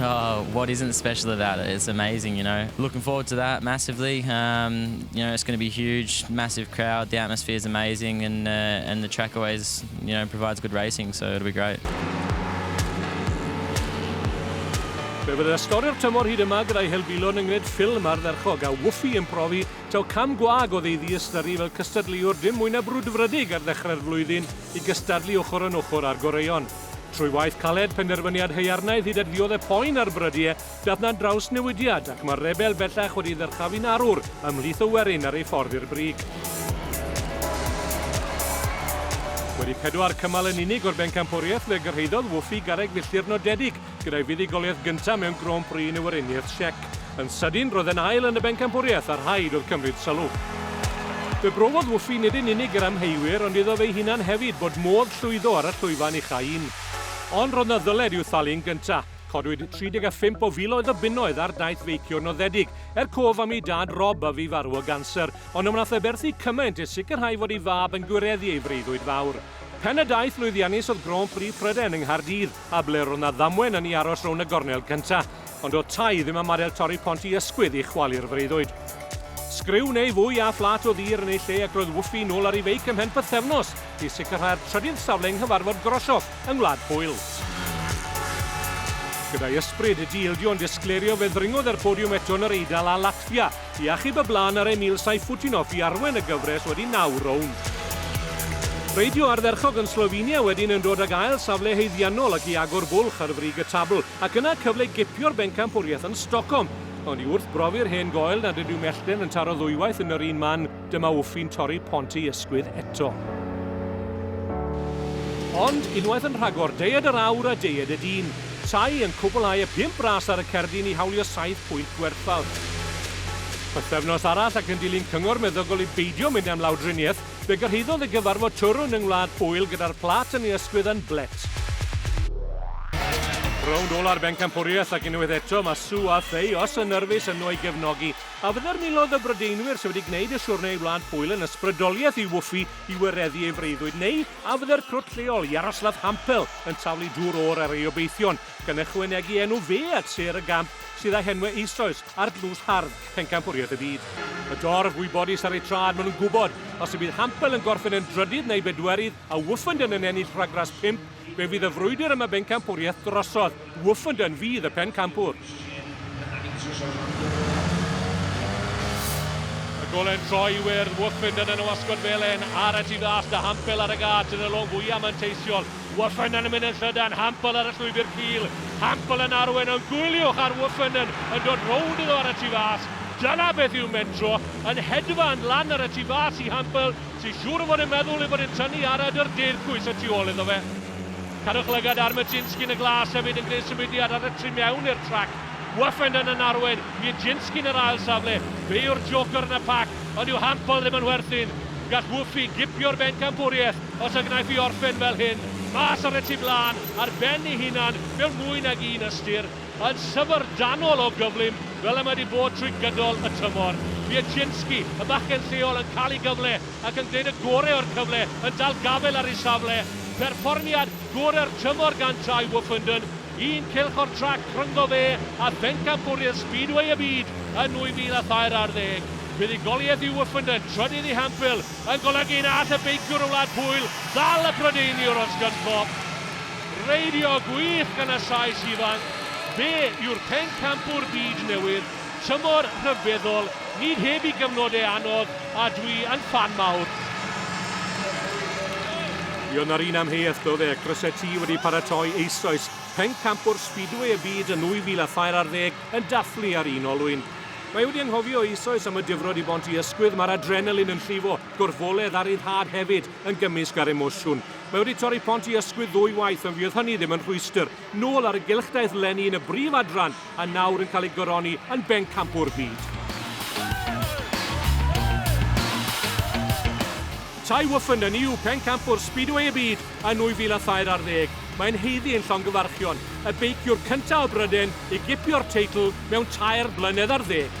Oh what isn't special about it, it's amazing you know, looking forward to that massively umm you know it's going to be huge, massive crowd, the atmosphere is amazing and uh and the track always you know provides good racing so it'll be great. Fe fydd ysgorio'r tymor hyd yma gyda'i helfilon yng Ngred Ffilm ardderchog a Woofy yn profi taw cam gwag oedd ei ddiystyru fel cystadleuwr dim mwy na brwdfrydig ar ddechrau'r flwyddyn i gystadlu ochr yn ochr â'r goreuon. Trwy waith caled, penderfyniad haearnaidd hyd at ddiodde' poen ar Brydieu, dath 'na drawsnewidiad ac mae'r rebel bellach wedi ddyrchafu'n arwr ymhlith y werin ar ei ffordd i'r brig. Wedi pedwar cymal yn unig o'r bencampwriaeth fe gyrhaeddodd Wwffi garreg filltir nodedig gyda'i fuddugoliaeth gyntaf mewn Grand Prix yn y Weriniaeth Siec. Yn sydyn, roedd e'n ail yn y bencampwriaeth a rhaid oedd cymryd sylw. Fe brofodd Woofy nid yn unig yr amheuwyr ond iddo fe'i hunan hefyd bod modd llwyddo ar y llwyfan ucha un. Ond roedd 'na ddyled i'w thalu yn gynta'. Codwyd 35 o filoedd o bunnoedd ar daith feicio noddedig, er cof am ei dad Rob a fu farw o ganser, ond na wnaeth e berthu cymaint i sicrhau fod ei fab yn gwireddu ei freuddwyd fawr. Pen y daith lwyddiannus oedd Grand Prix Prydain yng Nghaerdydd. A ble ro'dd 'na ddamwen yn 'i aros rownd y gornel gynta'. Ond do'dd Ty ddim am adael torri pont 'i ysgwydd i chwalu'r freuddwyd. Sgriw neu fwy a phlât o ddur yn ei lle ac roedd Wffi nôl ar 'i feic ymhen pythefnos i sicrhau'r trydydd safle yng nghyfarfod Groshoff yng Ngwlad Pwyl. Gyda'i ysbryd di-ildio yn disgleirio fe ddringodd e'r podiwm eto yn yr Eidal a Latfia. I achub y blaen ar Emil Sayfutdinov i arwain y gyfres wedi naw rownd. Reidio ardderchog yn Slovenia wedyn yn dod ag ail safle haeddiannol ac i agor bwlch ar frig y tabl, ac yna cyfle gipio'r bencampwriaeth yn Stockholm. Ond i wrthbrofi'r hen goel nad ydyw mellten yn taro ddwywaith yn yr un man, Dyma Wffi'n torri pont ei ysgwydd eto. Ond, unwaith yn rhagor, deied yr awr a deied y dyn. Tai yn cwblhau y pump ras ar y cerdyn i hawlio saith pwynt gwerthfawr. Pythefnos arall ac yn dilyn cyngor meddygol i beidio mynd am lawdriniaeth, fe gyrhaeddodd y gyfarfod twrwn yng Ngwlad Pwyl gyda'r plât yn ei ysgwydd yn blêt. Rownd ola'r bencampwriaeth ac unwaith eto mae Sue a Thayos yn nyrfys yno i gefnogi. A fydde'r miloedd o Brydeinwyr sydd wedi gwneud y siwrne i Wlad Pwyl yn ysbrydoliaeth i Woofy i wireddu ei freuddwyd neu a fydde'r crwt lleol, Yaroslav Hampel, yn taflu dŵr oer ar ei obeithion gan ychwanegu enw fe at sêr y gamp sydd â henwau eisoes ar dlws hardd pencampwriaeth y byd? Y dorf wybodus ar eu traed maen nhw'n gwybod os y bydd Hampel yn gorffen yn drydydd neu bedwerydd a Woofenden yn ennill rhagrás pump, Fe fydd y frwydr am y bencampwriaeth drosodd, Woofenden fydd y pencampwr. Y golen troi i wyrdd, Woofenden yn y wasgod felen, ar y tu fas da Hampel ar y gât yn y long fwya manteisiol, Woofenden yn mynd yn llydan, Hampel ar y llwybr cul, Hampel yn arwain yn gwyliwch ar Woofenden yn dod rownd iddo ar y tu fas, dyna beth yw mentro, yn hedfan lan ar y tu fas i Hampel, Ti'n siŵr fod e'n meddwl ei fod e'n tynnu arad yr deirgwys y tu ôl iddo fe? Cadwch lygad ar Murczynski yn y glas hefyd yn gwneud symudiad ar y tu mewn i'r trac. Weffenden yn arwain Murczynski yn yr ail safle. Fe yw'r joker yn y pac, ond dyw Hampel ddim yn werthin. Gall Wffi gipio'r bencampwriaeth os y gnaiff hi orffen fel hyn. Mas ar y tu flaen, ar ben ei hunan, mewn mwy nag un ystyr. Yn syfrdanol o gyflym, fel y mae wedi bod trwy gydol y tymor. Biedzinski, y bachgen lleol, yn cael ei gyfle ac yn gwneud y gorau o'r cyfle, yn dal gafael ar ei safle. Perfformiad gorau'r tymor gan Tadhg Wolfenden, un cylch o'r trac rhyngddo fe a phencampwriaeth Speedway y Byd yn 2003 ar ddeg. Buddugoliaeth yw Wolfenden, trydydd i Hemphill, yn golygu na all y beiciwr o Wlad Pwyl ddal y Prydeiniwr, Oscar Skopp. Reidio gwych gan y Sais ifanc, fe yw'r pencampwr byd newydd, tymor rhyfeddol, nid heb i gyfnodau anodd a dwi yn ffan mawr. Buon yr un amheuaeth doedd e, croeso ti wedi paratoi eisoes, pencampwr Speedway y byd yn 2004 ar ddeg yn dathlu ar un olwyn. Mae wedi anghofio eisoes am y difrod i bont i ysgwydd, mae'r adrenalin yn llifo, gorfoledd a ryddhad hefyd yn gymysg â'r emosiwn. Mae wedi torri pont i ysgwydd ddwy waith ond fydd hynny ddim yn rhwystr. Nôl ar y gylch daeth Lenny yn y brif adran a nawr yn cael ei goroni yn bencampwr byd. Tye Woffinden ni yw pencampwr Speedway y byd yn 2003 ar ddeg. Mae'n haeddu ein llongyfarchion, y beiciwr cyntaf o Bryden i gipio'r teitl mewn tair blynedd ar ddeg.